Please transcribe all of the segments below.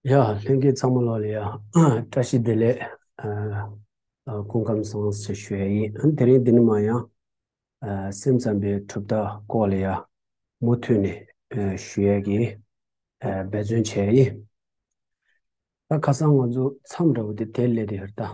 ཡ། ལྷན་རྒྱས་ཚང་མ་ལོགས་ལ་ཡ། བཀྲ་ཤིས་བདེ་ལེགས། སྐུ་ཁམས་བཟང་སུ་ཞེས་ཞུ་ཡ་ཡིན། དེ་རིང་འདི་ནི་མ་ཡང། སེམས་ཙམ་པའི་གྲུབ་རྟགས་སྐོར་ལ་ཡ། མུ་མཐུད་ནས་ཞུ་ཡ་གི། འབད་བརྩོན་བྱས་ཡ་ཡིན། ད་ཁ་སང་ང་ཚོ་མཚམས་འདྲ་བོ་དེ་དེ་སླད་དེ་ཧུར་ཐག།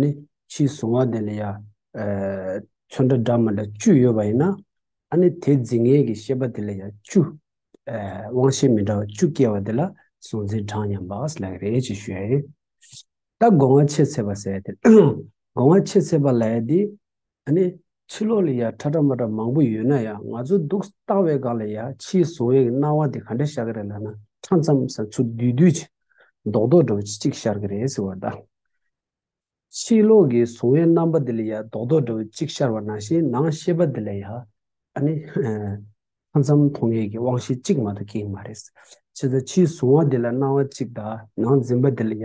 ནི། ཕྱིའི་གཟུང་བ་དེ་ལ་ཡང། ཚོན་ཁྲ་སྦྲགས་མ་ལ་བཅུ་ཡོད་པ་ཡིན་ན། ཨ་ནི་དེ་འཛིན་ངེས་ཀྱི་ཤེས་པ་དེ་ལ་ཡང་བཅུ། དབང་ཤེས་མི་འདྲ་བ་བཅུ་སྐྱེ་བ་དེ་ལ་གཟུང་འཛིན་གྲངས་མཉམ་པ་ལགས་རེ་ཅེས་ཞུ་ཡ་ཡིན། ད་སྒོ་ང་ཕྱེད་ཚད་པ་ཟད་དེ། སྒོ་ང་ཕྱེད་ཚད་པ་ལ་ཡ་དེ། ད་ནི་ཕྱི་ལོགས་ལ་ཡ་ཁྲ་ཁྲ་མ་ཁྲ་མང་པོ་ཡོད་ན་ཡང་ང་ཚོའི་འདུག་སྟངས་བའི་སྒང་ལ་ཡ་ཕྱིའི་བཟུང་བའི་སྣང་བ་དེ་ག་འདྲ་ཤར་གི་རེད་ལབ་ན་ཁྲ་མཚམས་སམ་ཆུ་རྡུལ་རྡུལ་གྱི་མདོག་མདོག་འདྲ་བོ་ཅི་ཅིག་ཤར་གི་རེད་ཟེར་བ་འདྲ། ཕྱི་ལོགས་ཀྱི་བཟུང་བའི་རྣམ་པ་དེ་ལ་ཡ་མདོག་མདོག་འདྲ་བོ་ཅིག་ཤར་བ་ནང་བཞིན་ནང་ཤེས་པ་དེ་ལ་ཡ་ཨ་ནི་ཁྲ་མཚམས་མཐོང་ངེས་ཀྱི་དབང་ཤེས་གཅིག་མ་གཏོགས་སྐྱེ་གི་མ་རེད། ཕྱི་ཟ་ཕྱིའི་བཟུང་བ་དེ་ལ་སྣང་བ་གཅིག་དང་ནང་འཛིན་པ་དེ་ལ་ཡ།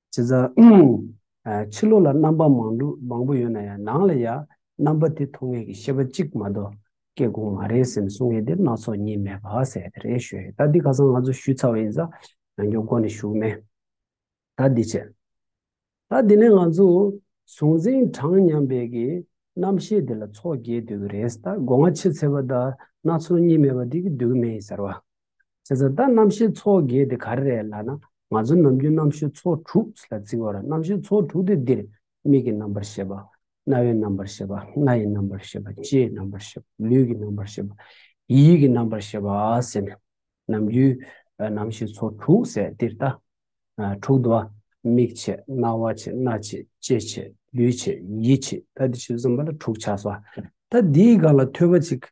བྱས་ཙང། ཕྱི་ལོགས་ལ་རྣམ་པ་མང་དྲུག་མང་པོ་ཡོད་ན་ཡང་ནང་ལ་ཡང་རྣམ་པ་དེ་མཐོང་ངེས་ཀྱི་ཤེས་པ་གཅིག་མ་གཏོགས་སྐྱེ་དགོངས་མ་རེད་སེམས་གསུང་ངེས་དེ་སྣ་ཚོགས་གཉིས་མེད་བག་ཟས་དེ་རེད་ཞུས་ཡོད་ད་འདི་ཁ་སང་ང་ཚོ་ཞུས་ཚར་བ་ཡིན་ཙང་ཡང་སྐྱོང་སྐོར་ནས་ཞུགས་མེད། ད་འདི་བྱས། ད་འདི་ནས་ང་ཚོ་གཟུང་འཛིན་གྲངས་མཉམ་འབད་ཀྱི་རྣམ་ཤེས་དེ་ལ་ཚོགས་རྒྱས་སྡོད་ཀྱི་རེད་ད་སྒོ་ང་ཕྱེ་ཚལ་པ་ད་སྣ་ཚོགས་གཉིས་མེད་པ་འདི་གི་སྡོད་ཀྱི་མེད་ཡིན་ཟེར་བ། ཟེར་ཚར་ད་རྣམ་ཤེས་ཚོགས་བརྒྱད་དེ་ག་རེ་རེད་ལགས་ན་ང་ཚོ་ནམ་རྒྱུན་རྣམ་ཤེས་ཚོགས་དྲུག་ལ་བརྩི་བར་རྣམ་ཤེས་ཚོགས་དྲུག་དེ་འདིར་མིག་གི་རྣམ་པར་ཤེས་པ། རྣ་བའི་རྣམ་པར་ཤེས་པ་སྣ་ཡི་རྣམ་པར་ཤེས་པ་ལྕེའི་རྣམ་པར་ཤེས་པ་ལུས་ཀྱི་རྣམ་པར་ཤེས་པ། ཡིད་ཀྱི་རྣམ་པར་ཤེས་པ་ཟེར་ནས་ནམ་རྒྱུན་རྣམ་ཤེས་ཚོགས་དྲུག་ཟེར་འདིར་ད། དྲུག་དུ་བ། མིག་ཕྱེད་རྣ་བ་ཕྱེད་སྣ་ཕྱེད་ལྕེ་ཕྱེད་ལུས་ཕྱེད་ཡིད་ཕྱེད་ད་འདི་ཕྱེད་དུ་བསམ་པ་ལ་དྲུག་ཆགས་སོ། ད་འདིའི་སྒང་ལ་ཐོས་པ་ཅིག་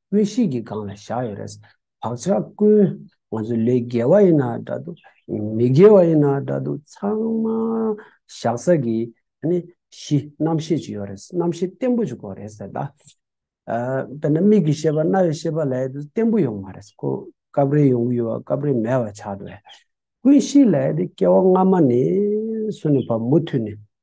དངོས་གཞིའི་གི་སྒང་ལ་བཞག་ཡོད་རེད། བག་ཆགས་ཀུན། ང་ཚོ་ལས་རྒྱལ་བ་ཡིན་ན་འདྲ་འདུག། མི་རྒྱལ་བ་ཡིན་ན་འདྲ་འདུག་ཚང་མ། བཞག་ས་གི། ནི། གཞི་རྣམ་ཤེས་ཅིག་ཡོད་རེད། རྣམ་ཤེས་བརྟན་པོ་ཅིག་དགོས་རེད་ཟེར། ད། དཔེར་ན་མིག་གི་ཤེས་པ་རྣ་བའི་ཤེས་པ་ལས་དེ་བརྟན་པོ་ཡོང་མ་རེད། ཁོ། སྐབས་རེ་ཡོང་གི་ཡོད་བ་སྐབས་རེ་མེད་བ་ཆགས་འགྲོ་ཡ། ཀུན་གཞི་ལས་དེ་སྐྱེ་བ་སྔ་མ་ནས། སུ་ནས་བར་མུ་མཐུད་ནས།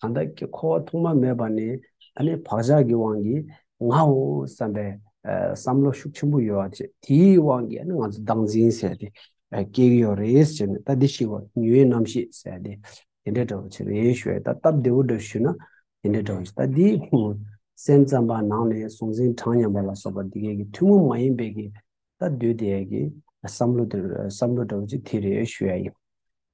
གང་དག་གིས་འཁོར་བ་ཐོག་མ་མེད་པ་ནས་ད་ནི་བག་ཆགས་ཀྱི་དབང་གིས་ངའོ་བསམ་པའི་བསམ་བློ་ཤུགས་ཆེན་པོ་ཡོད་བ་དེའི་དབང་གིས་ང་ཚོ་བདག་འཛིན་ཟེར་ཏེ་སྐྱེ་གི་ཡོད་རེད་ཟེར་ནས་ད་འདི་ཞིག་བ་ཉི་འོད་རྣམ་ཤེས་ཟེར་ཏེ་དེ་འདྲ་འདྲ་བོ་ཆེ་རེད་ཞུ་བས་ད་སྟབས་བདེ་བོ་འདྲ་ཞུས་ན་དེ་འདྲ་འདྲ་བོ་ཆེ་ད་འདི་སེམས་ཙམ་པ་ནང་ནས་གཟུང་འཛིན་གྲངས་མཉམ་པ་ལ་སོགས་པ་འདི་གས་ཀྱི་ཐུན་མོང་མ་ཡིན་པའི་གི་ད་འདོད་དེ་གི་བསམ་བློ་འདི་བསམ་བློ་འདྲ་བོ་ཆེ་དེ་རེད་ཞུ་ཡ་ཡིན།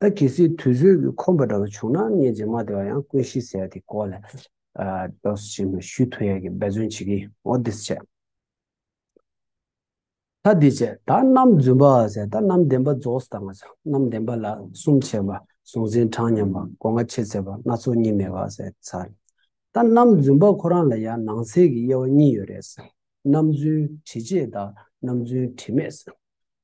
ད་གལ་སྲིད་དུས་ཚོད་ཀྱིས་ཁོམ་པ་འདྲ་བ་བྱུང་ན་ངས་རྗེས་མ་དེ་བ་ཡང་ཀུན་ཤིས་ཟེར་དེ་སྐོར་ལ་རྡོ་སོལ་ཆེན་མོ་ཞུས་ཐུ་ཡ་གིས་འབད་བརྩོན་བྱེད་ཀྱིན་འོ་དེས་བྱས། ད་འདིས་བྱས། ད་རྣམ་རྫུན་པ་ཟེར་ད་རྣམ་བདེན་པ་རྫོགས་སུ་བཏང། རྣམ་བདེན་པ་ལ་གསུམ་བྱས། བཟུང་ཟིན་གྲངས་མཉམ་པ་སྒོ་ང་ཕྱེད་ཚད་པ་སྣ་ཚོགས་གཉིས་མེད་པ་ཟེར། ད་རྣམ་རྫུན་པ་ཁོ་རང་ལ་ཡང་ནང་གསལ་གྱི་དབྱེ་བ་གཉིས་ཡོད་རེད། རྣམ་རྫུན་དྲི་བཅས་དང་རྣམ་རྫུན་དྲི་མེད།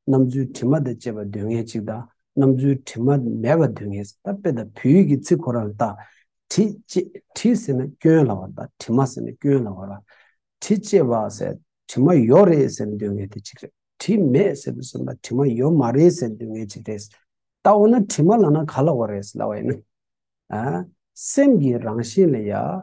སྣམ་བུའི་དྲི་མ་དང་བཅས་པ་དུས་ངན་ཅིག་དང་སྣམ་བུའི་དྲི་མ་མེད་པ་དུས་ངན་ཟེར་ན་དཔེ་དང་བོའི་ཡིག་གི་ཚིག་གོ་ར་ལ་བརྟག། དྲི་བཅས་དྲི་ཟེར་ན་སྐྱོན་ལ་བར་དང་དྲི་མ་ཟེར་ན་སྐྱོན་ལ་བར། དྲི་བཅས་བ་ཟེར་དྲི་མ་ཡོད་རེད་ཟེར་ན་དུས་ངན་དེ་གཅིག་རེད། དྲི་མེད་ཟེར་བ་ཟེར་ན་དྲི་མ་ཡོད་མ་རེད་ཟེར་ན་དུས་ངན་གཅིག་རེད། ད་འོ་ན་དྲི་མ་ལ་ན་ག་ལ་བ་རེད་ཟེར་ལ་བ་ཡིན་ན། སེམས་ཀྱི་རང་བཞིན་ལ་ཡང་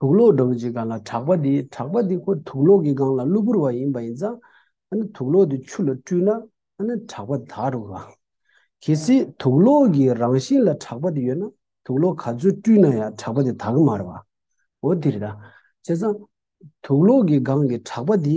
དུག་ལོག་འདྲ་བོ་ཅིག་གང་ལ་གྲགས་པ་དེ་གྲགས་པ་དེ་ཁོ་དུག་ལོག་གི་སྒང་ལ་གློ་བུར་བ་ཡིན་པ་ཡིན་ཙང་ཨ་ནི་དུག་ལོག་དེ་ཆུ་ལ་བཀྲུས་ན་ཨ་ནི་གྲགས་པ་དེ་དག་འགྲོ་གི། གལ་སྲིད་དུག་ལོག་གི་རང་བཞིན་ལ་གྲགས་པ་དེ་ཡོད་ན་དུག་ལོག་ག་ཚོད་བཀྲུས་ན་ཡང་གྲགས་པ་དེ་དག་མ་རེད་བ། འོ་དེ་རེད་ད། བྱས་ཙང་དུག་ལོག་གི་སྒང་གི་གྲགས་པ་དེ་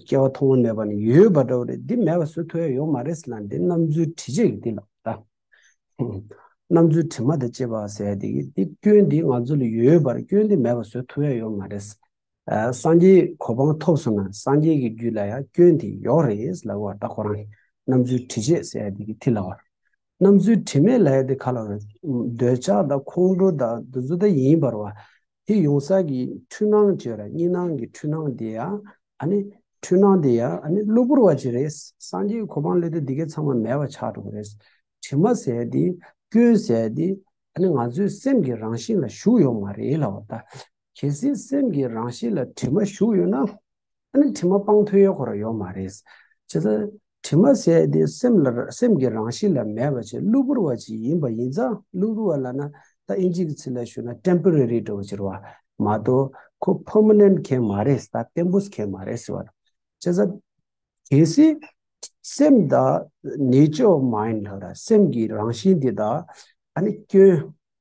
སྐྱེ་བ་མཐོང་བ་མེད་པ་ནི་ཡོད་པ་འདྲ་བོ་རེད་འདི་མེད་པ་སུ་ཐོས་ཡོད་མ་རེད་ཟེར་ན་འདི་རྣམ་རྫུན་དྲི་བཅས་ཀྱི་འདི་ལ་རྣམ་རྫུན་དྲི་མ་དང་བཅས་པ་ཟེར་ཡ་འདི་གི་འདི་སྐྱོན་འདི་ང་ཚོ་ལ་ཡོད་པར་སྐྱོན་འདི་མེད་པ་སུ་ཐོས་ཡོད་མ་རེད། སངས་རྒྱས་གོ་འཕང་ཐོབ་སོང་ན་སངས་རྒྱས་ཀྱི་རྒྱུད་ལ་ཡང་སྐྱོན་དེ་ཡོག་རེད་ལབ་བ་འདྲ་ཁོ་རང་རྣམ་རྫུན་དྲི་བཅས་ཟེར་ཡ་འདི་གི་དེ་ལ་བར་རྣམས་ཚུལ་དྲི་མེད་ལྷའི་དེ་ཁ་ལ་བའི། འདོད་ཆགས་དང་ཁོང་ཁྲོ་དང་འདུ་འཛི་དང་ཡིན་པར་བ། དེ་ཡོང་ས་ཀྱི་འཁྲུལ་སྣང་བཅས་ར་གཉིས་སྣང་གི་འཁྲུལ་སྣང་དེ་ཡ། ཨ་ནི། འཁྲུལ་སྣང་དེ་ཡ་ཨ་ནི་གློ་བུར་བ་བཅས་རེད། སངས་རྒྱས་ཀྱི་གོ་འཕང་སླད་དུ་འདི་གའི་ཚང་མ་མེད་པ་ཆགས་འགྲོ་གི་རེད། དྲི་མ་ཟད་དེ། སྐྱོན་ཟད་དེ། ཨ་ནི་ང་ཚོའི་སེམས་ཀྱི་རང་བཞིན་ལ་ཞུགས་ཡོད་མ་རེད་ལ་བ་ད། གལ་སྲིད་སེམས་ཀྱི་རང་གཤིས་ལ་དྲི་མ་ཞུགས་ཡོད་ན། ཨ་ནི་དྲི་མ་སྤང་ཐུབ་ཡོད་གོ་ཡོད་མ་རེད། བྱས་ཙང་དྲི་མ་ཟད་དེ་སེམས་ལ་སེམས་ཀྱི་རང་གཤིས་ལ་མེད་པ་ཆེས་གློ་བུར་བ་ཅིག་ཡིན་པ་ཡིན་ཙང་གློ་བུར་བ་ལ་ན་ད་ཨིན་ཇིའི་གི་ཚིག་ལ་ཞུ་ན Temporary འདྲ་བོ་ཅིག་རེད་བ། མ་གཏོགས་ཁོ Permanent མཁན་མ་རེད་ད Tempus མཁན་མ་རེད་ཟེར་བ་དང། བྱས་ཙང་གལ་སྲིད་སེམས་དང Nature of Mind ལ་སེམས་ཀྱི་རང་གཤིས་འདི་དག་ཨ་ནི་སྐྱོན།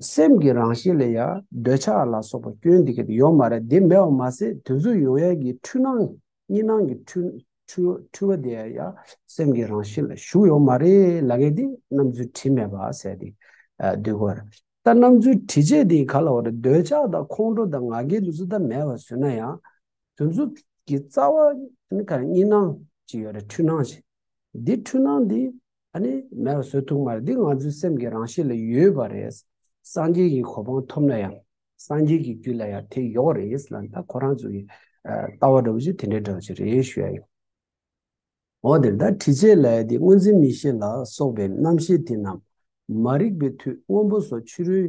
སེམས་ཀྱི་རང་བཞིན་ལ་ཡང་འདོད་ཆགས་ལ་སོགས་པ་སྐྱོན་འདི་སྐད་དུ་ཡོད་མ་རེད་དེ་མེད་པ་མ་ཟད་དུས་མཚུངས་ཡོད་ཡལ་གྱི་འཁྲུལ་སྣང་གཉིས་སྣང་གི་འཁྲུལ་བ་དེ་ཡང་སེམས་ཀྱི་རང་བཞིན་ལ་ཞུགས་ཡོད་མ་རེད་ལ་གལ་ཏེ་རྣམ་རྫུན་དྲི་མེད་པ་ཟད་དེ་སྡུད་དགོས་ར་ད་རྣམ་རྫུན་དྲི་བཅས་དེ་ག་ལ་བ་རེད་འདོད་ཆགས་དང་ཁོང་ཁྲོ་དང་ང་རྒྱལ་དུ་ཙི་ད་མེད་པར་བཟོས་ན་ཡང་དུས་མཚུངས་ཀྱི་རྩ་བ་གཉིས་སྣང་གཅིག་ཡོད་རེད་འཁྲུལ་སྣང་གཅིག་འདི་འཁྲུལ་སྣང་འདི་ད་ནི་མེད་བཟོད་ཐུགས་མར་འདི་ང་ཚོའི་སེམས་ཀྱི་རང་གཤིས་ལ་ཡོད་པ་རེད། སངས་རྒྱས་ཀྱི་གོ་འཕང་ཐོབ་ན་ཡང། སངས་རྒྱས་ཀྱི་རྒྱུད་ལ་ཡང་དེ་ཡོད་རེད་ལ་ད་ཁོ་རང་ཚོ་ཡི་ལྟ་བ་འདྲ་བོ་ཞིག་དེ་འདྲའི་འདྲ་བོ་ཞིག་རེད་ཞུ་ཡ་ཡིན། འོ་དེར་ད་དྲི་བྱས་ལ་ཡ་དེ་སྔོན་འཛིན་མི་ཤེས་ལ་སོགས་པའི་རྣམ་ཤེས་དེ་རྣམས་མ་རིག་པའི་མཐུས་སྔོན་པོ་སོགས་ཕྱི་རོལ་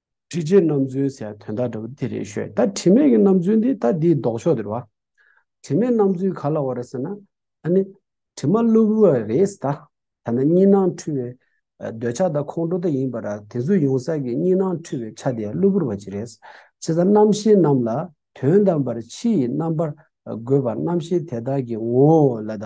དྲི་ཆེ་རྣམ་རྫུན་ཟེར་དོན་དག་འདྲ་བོ་དེ་རེད་ཤོད་ད་དྲི་མེད་ཀྱི་རྣམ་རྫུན་དེ་ད་འདིའི་ལྡོག་ཕྱོགས་དེ་རེད་བ། དྲི་མེད་རྣམ་རྫུན་ག་ལ་བ་རེད་ཟེར་ན་ཨ་ནི་དྲི་མ་བླུ་བུ་བ་རེད་ད། ཐ་ན་གཉིས་སྣང་འཁྲུལ་བའི་འདོད་ཆགས་དང་ཁོང་ཁྲོ་དག་ཡིན་པ་ར་དེ་ཚོ་ཡོང་ས་ཀྱི་གཉིས་སྣང་འཁྲུལ་བའི་ཆ་དེ་བླུ་བུར་བ་ཅིག་རེད། ཆེ་ས་རྣམ་ཤེས་རྣམས་ལ་དོན་དམ་པར་ཕྱི་ཡི་རྣམ་པར་དགོད་པ་རྣམ་ཤེས་དེ་དག་གི་ངོ་བོ་ལ་ད།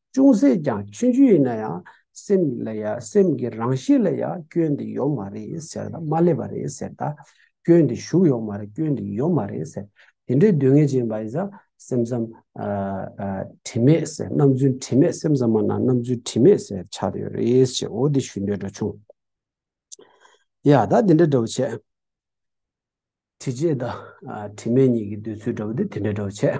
ཅུང་ཟད་ཀྱང་མཆོད་རྒྱུ་ཡིན་ན་ཡང་སེམས་ལ་ཡ་སེམས་ཀྱི་རང་གཤིས་ལ་ཡ་སྐྱོན་འདི་ཡོད་མ་རེད་ཟེར་ད་མ་སླེབས་པ་རེད་ཟེར་ད་སྐྱོན་འདི་ཞུགས་ཡོད་མ་རེད་སྐྱོན་འདི་ཡོད་མ་རེད་ཟེར་དེ་འདྲའི་སྡུག་བསྔལ་ཅན་པ་ཡིན་ས་སེམས་ཙམ་དྲི་མེད་ཟེར་རྣམ་རྫུན་དྲི་མེད་སེམས་ཙམ་མ་ན་རྣམ་རྫུན་དྲི་མེད་ཟེར་ཆགས་ཡོད་རེད་ཅེས་འོ་དེ་ཞུས་འདོད་འདྲ་བྱུང། ཡ་ད་དེ་འདྲ་འདྲ་བོ་བྱས། དྲི་བྱས་ད་དྲི་མེད་གཉིས་ཀྱི་འདོད་ཚུལ་འདྲ་བོ་དེ་དེ་འདྲ་འདྲ་བོ་བྱས།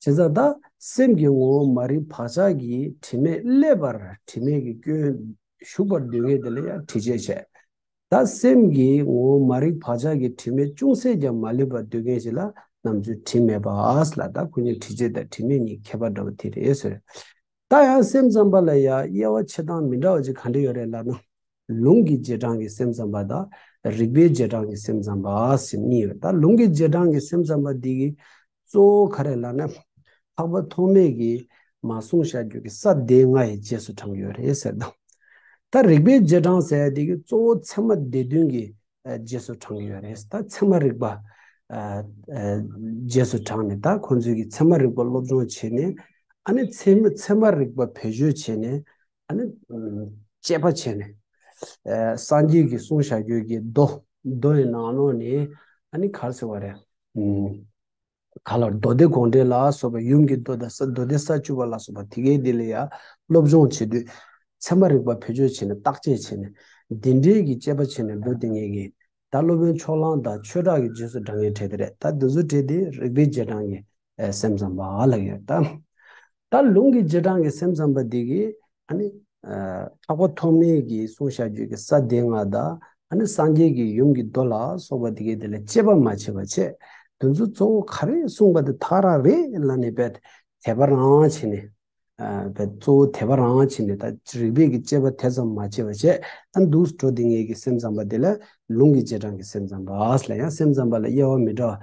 བྱས་ཙང་བདག་སེམས་ཀྱི་ངོ་བོ་མ་རིག་བག་ཆགས་ཀྱི་དྲི་མས་བསླད་པར་དྲི་མེད་ཀྱི་སྐྱོན་ཞུགས་པར་འདོད་ངེས་དེ་ལ་ཡང་དྲི་བྱས་བྱས། བདག་སེམས་ཀྱི་ངོ་བོ་མ་རིག་བག་ཆགས་ཀྱི་དྲི་མས་ཅུང་ཟད་ཀྱང་མ་བསླད་པར་འདོད་ངེས་བྱས་ལ་ནམ་ཚོད་དྲི་མེད་པ་ཨཱས་ལ་བདག་ཀུན་ནས་དྲི་བྱས་དང་དྲི་མེད་གཉིས་ཁྱད་པར་འདྲ་བ་དེ་རེད་ཟེར། ད་ཡང་སེམས་ཙམ་པ་ལ་ཡང་དབྱེ་བ་ཆེ་ཐང་མི་འདྲ་བ་ཅིག་ག་འདྲ་ཡོད་རེད་ལབ་ན། ལུང་གི་རྗེས་འབྲང་གི་སེམས་ཙམ་པ་དང་རིགས་པའི་རྗེས་འབྲང་གི་སེམས་ཙམ་པ་ཟེར་གཉིས་ཡོད། ད་ལུང་གི་རྗེས་འབྲང་གི་སེམས་ཙམ་པ་འདི་གི་གཙོ་བོ་ག་རེད་ལབ་ན། འཕགས་པ་ཐོགས་མེད་ཀྱིས་མ་གསུངས་ཤར་རྒྱུད་ཀྱི་ས་སྡེ་ལྔ་ཡི་རྗེས་སུ་འབྲང་གི་ཡོད་རེད་ཟེར་དང། ད་རིགས་པའི་རྗེས་འབྲང་ཟེར་བ་འདི་གི་གཙོ་བོ་ཚད་མ་སྡེ་བདུན་གྱི་རྗེས་སུ་འབྲང་གི་ཡོད་རེད་ད་ཚད་མ་རིག་པ་རྗེས་སུ་འབྲང་ནས་ད་ཁོང་ཚོས་ཀྱི་ཚད་མ་རིག་པ་སློབ་སྦྱོང་བྱས་ནས་ཨ་ནི་ཚད་མ་རིག་པ་བེད་སྤྱོད་བྱས་ནས་ཨ་ནི་དཔྱད་པ་བྱས་ནས་སངས་རྒྱས་ཀྱི་གསུང་བྱ་རྒྱུད་ཀྱི་མདོ་མདོ་ཡི་ནང་ནོག་ནས་ཨ་ནི་གར་ཟེར་བ་རེད། ག་ལ་མདོ་སྡེ་དགོངས་འགྲེལ་ལ་སོགས་པའི་ཡུམ་གྱི་མདོ་དང་མདོ་སྡེ་ས་བཅུ་པ་ལ་སོགས་པ་དེ་གའི་དེ་ལ་ཡང་སློབ་སྦྱོང་བྱེད་དུས། ཚད་མ་རིག་པ་བེད་སྤྱོད་བྱས་ནས་བརྟག་དཔྱད་བྱས་ནས། འདི་འདྲའི་གྱི་དཔྱད་པ་བྱས་ནས་འགྲོ་དེ་ངེས་ཀྱི། ད་སློབ་དཔོན་ཕྱོགས་གླང་དང་ཆོས་གྲགས་ཀྱི་རྗེས་སུ་འབྲང་ངེས་བྲལ་དེ་རེད་ད་དེ་ཚོ་བྲལ་དེ་རིག་པའི་རྗེས་འབྲང་གི་སེམས་ཙམ་པ་ལ་ཡོད་ད། ད་ལུང་གི་རྗེས་འབྲང་གི་སེམས་ཙམ་པ་དེ་གིས་ནི། གྲགས་པ་ཐོགས་མེད་ཀྱི་གསུང་བཤགས་རྒྱུད་ཀྱི་ས་སྡེ་ལྔ་དང་ནི་སངས་རྒྱས་ཀྱི་ཡུམ་གྱི་མདོ་ལ་སོགས་པ་དེ་གས་དེ་ལ་དཔྱད་པ་མ་བྱས་པ་ཆད་འདུ་འཛོ་གཙོ་བོ་ག་རེ་གསུངས་པ་དེ་དག་རང་རེ་ལ་ནི་བས་དད་པ་རང་བྱས་ནས། བས་གཙོ་བོ་དད་པ་རང་བྱས་ནས་ད་རིག་པས་ཀྱི་དཔྱད་པ་དེ་ཙམ་མ་བྱས་པ་ཆད་ཨ་འདུ་འགྲོ་དེ་ངས་ཀྱི་སེམས་ཙམ་པ་དེ་ལ་ལུང་གི་རྗེས་འབྲང་གི་སེམས་ཙམ་པ་ལ་ཡང་སེམས་ཙམ་པ་ལ་དབྱེ་བ་མི་འདྲ་བ།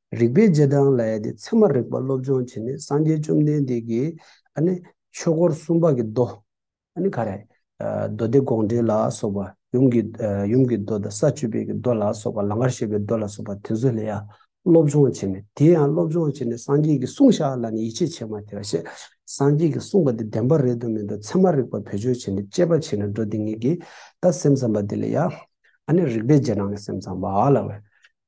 རིག་པའི་རྗེས་འབྲང་ལ་ཡལ་ཏེ་ཚད་མ་རིག་པ་སློབ་སྦྱོང་བྱས་ནས་སངས་རྒྱས་བཅོམ་ལྡན་འདས་ཀྱི་ཆོས་སྐོར་གསུམ་པ་གྱི་མདོ། མདོ་སྡེ་དགོངས་འགྲེལ་ལ་སོགས་པ། ཡུམ་གྱི་མདོ་དང་ས་བཅུ་པའི་མདོ་ལ་སོགས་པ་ལང་ཀར་བཤད་པའི་མདོ་ལ་སོགས་པ་དེ་ཚོ་ལ་ཡང་སློབ་སྦྱོང་བྱས་ནས་དེ་ཡང་སློབ་སྦྱོང་བྱས་ནས་སངས་རྒྱས་ཀྱི་གསུང་བཤགས་ལ་ནི་ཡིད་ཆེས་བྱེད་མ་ཐེ་བ་ཞེས་སངས་རྒྱས་ཀྱི་གསུང་པ་དེ་བདེན་པ་རེད་དུ་མེད་དུ་ཚད་མ་རིག་པ་བེད་སྤྱོད་བྱས་ནས་དཔྱད་པ་བྱས་ནས་འགྲོ་དེ་ཉིད་ཀྱིས་ད་སེམས་ཙམ་པ་དེ་ལ་ཡང་རིག་པའི་རྗེས་འབྲང་གི་སེམས་ཙམ་པ་ལ་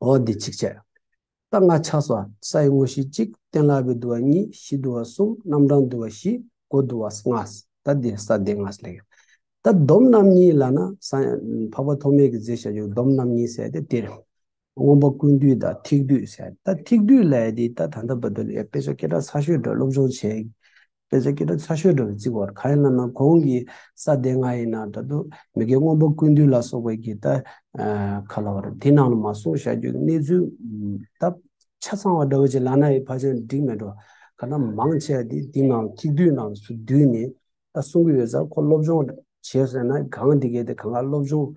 འོ་འདི་ཅིག་བྱས། རྟ་རྔ་ཆགས་སོ་ས་ཡི་དངོས་གཞི་གཅིག་སྟན་ལ་བས་དུ་བ་གཉིས་བཞི་དུ་བ་གསུམ་རྣམ་གྲངས་དུ་བ་བཞི་སྒོ་དུ་བ་ལྔ་ད་འདི་ས་སྡེ་ལྔ་ལས། ད་སྡོམ་རྣམ་གཉིས་ལ་ན་འཕགས་པ་ཐོགས་མེད་ཀྱི་རྫས་བྱ་རྒྱུ་སྡོམ་རྣམ་གཉིས་བསལ་ཏེ་དེར། སྔོན་པོ་ཀུན་བསྡུས་དང་ཐིག་བསྡུས་བསལ། ད་ཐིག་བསྡུས་ལས་འདི་ད་ད་ད་བ་དུ་ལས་དཔེ་ཆ་སྐད་གྲགས་ཚ་ཤོས་འདྲ་སློབ་སྦྱོང་བྱས། དཔེ་ཆ་སྐད་སྒྲ་ཚ་ཤོས་འདྲ་བའི་རྩིག་བར་ཁ་ཡན་ལ་ན་གོང་གི་ས་སྡེ་ལྔ་ཡི་ནང་དྲ་དུ་མི་དགེ་སྔོན་པོ་ཀུན་འདུས་ལ་སོགས་པའི་གྱི་ད་ག་ལ་བར་དེ་ནང་ལ་མ་སོང་བྱ་རྒྱུའི་གནས་ཚུལ་སྟབས་ཆ་ཚང་བ་འདྲ་བོ་ཅིག་ལ་ན་ཡི་བར་ཅན་འགྲིག་མེད་འགྲོ་ག་ན་མང་ཆེ་བ་དེ་དེ་ནང་ཐིག་རྡུལ་ནང་སུ་བསྡུས་ནས་ད་གསུང་གི་ཡོད་ས་ཁོ་སློབ་སྦྱོང་བྱས་ཟེར་ན་གང་དེ་གས་དེ་གང་ག་སློབ་སྦྱོང།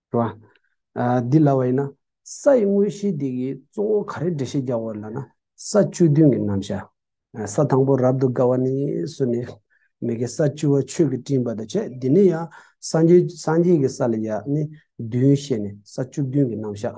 རེད་བ། འདི་ལ་བ་ཡིན་ན། ས་ཡི་དངོས་གཞི་དེ་གི་གཙོ་བོ་ག་རེ་འགྲེལ་བཤད་རྒྱག་བ་ལ་ན། ས་བཅུ་བདུན་གྱི་རྣམ་བཞག། ས་དང་པོ་རབ་ཏུ་དགའ་བ་ནི་སུ་ནི། མི་དགེ་ས་བཅུ་བ་ཆོས་ཀྱི་སྤྲིན་པ་དང་བཅས་འདི་ནི་ཡང། སངས་རྒྱས་ཀྱི་ས་ལ་ཡང་ནི་བདུན་བཤད་ནས་ས་བཅུ་བདུན་གྱི་རྣམ་བཞག།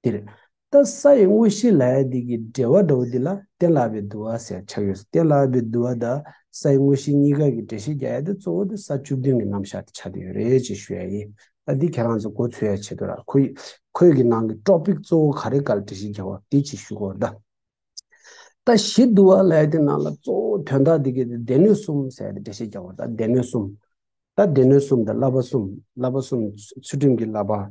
འདིར་ད་ས་ཡི་དངོས་གཞི་ལ་ཡ་འདི་ཀྱི་འགྲེལ་བ་འདྲ་བོ་འདི་ལ་གཏན་ལ་བའི་བསྡུ་བ་ཟེར་ཆགས་ཡོད་གཏན་ལ་བའི་བསྡུ་བ་ད་ས་ཡི་དངོས་གཞི་གཉིས་ཀ་གི་འགྲེལ་བཤད་རྒྱ་ཡ་དེ་གཙོ་བོ་དེ་ས་བཅུ་བདུན་གྱི་རྣམ་བཞག་དེ་ཆགས་ཀྱི་ཡོད་རེད་ཅེས་ཞུ་ཡ་ཡིན་ད་འདི་ཁྱེད་རང་ཚོས་གོ་ཚོད་ཡ་བྱེད་དོ་ར་ཁོ་ཁོད་ཀྱི་ནང་གི་ཀྲོག་པིག་གཙོ་བོ་ག་རེ་བཀའ་ལ་འགྲེལ་བཤད་རྒྱ་བ་དེ་ཅེས་ཞུ་གོ་ད། ད་གཞི་བསྡུ་བ་ལ་ཡ་དེ་ནང་ལ་གཙོ་བོ་དོན་དག་འདི་ཀྱི་དེ་སྡེ་སྣོད་གསུམ་ཟེར་ཡ་དེ་འགྲེལ་བཤད་རྒྱ་བ་ད་སྡེ་སྣོད་གསུམ། ད་སྡེ་སྣོད་གསུམ་དེ་བསླབ་པ་གསུམ་བསླབ་པ་གསུམ་ཚུལ་ཁྲིམས་ཀྱི་བསླབ་པ།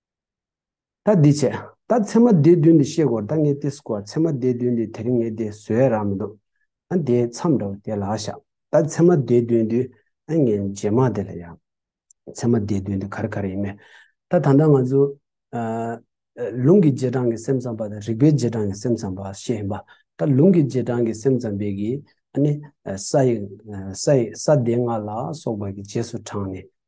ད་འདི་བྱས། ད་ཚེ་མ་དེའི་དུས་འདི་བཤད་དགོས་ད་ངས་ཏིས་བསྐོར་ཚེ་མ་དེའི་དུས་འདི་དེ་རིང་ངས་དེ་ཟོས་རག་མི་འདུག་ཨ་དེའི་མཚམས་འདྲ་བོ་དེ་ལ་བཞག་ད་ཚེ་མ་དེའི་དུས་འདི་ཨ་ངས་རྗེས་མ་དེ་ལ་ཡ། ཚེ་མ་དེའི་དུས་འདི་གར་གར་ཡིན་མེད་ད་ད་ལྟ་ང་ཚོ། ལུང་གི་རྗེས་འབྲང་གི་སེམས་ཙམ་པ་དང་རིག་པའི་རྗེས་འབྲང་གི་སེམས་ཙམ་པ་ཞེས་ཡིན་པ་ད་ལུང་གི་རྗེས་འབྲང་གི་སེམས་ཙམ་པའི་གིས་ཨ་ནི། ས་ཡི། ས་ཡི་ས་དེ་ལྔ་ལ་སོགས་པ་གི་རྗེས་སུ་འབྲངས་ནས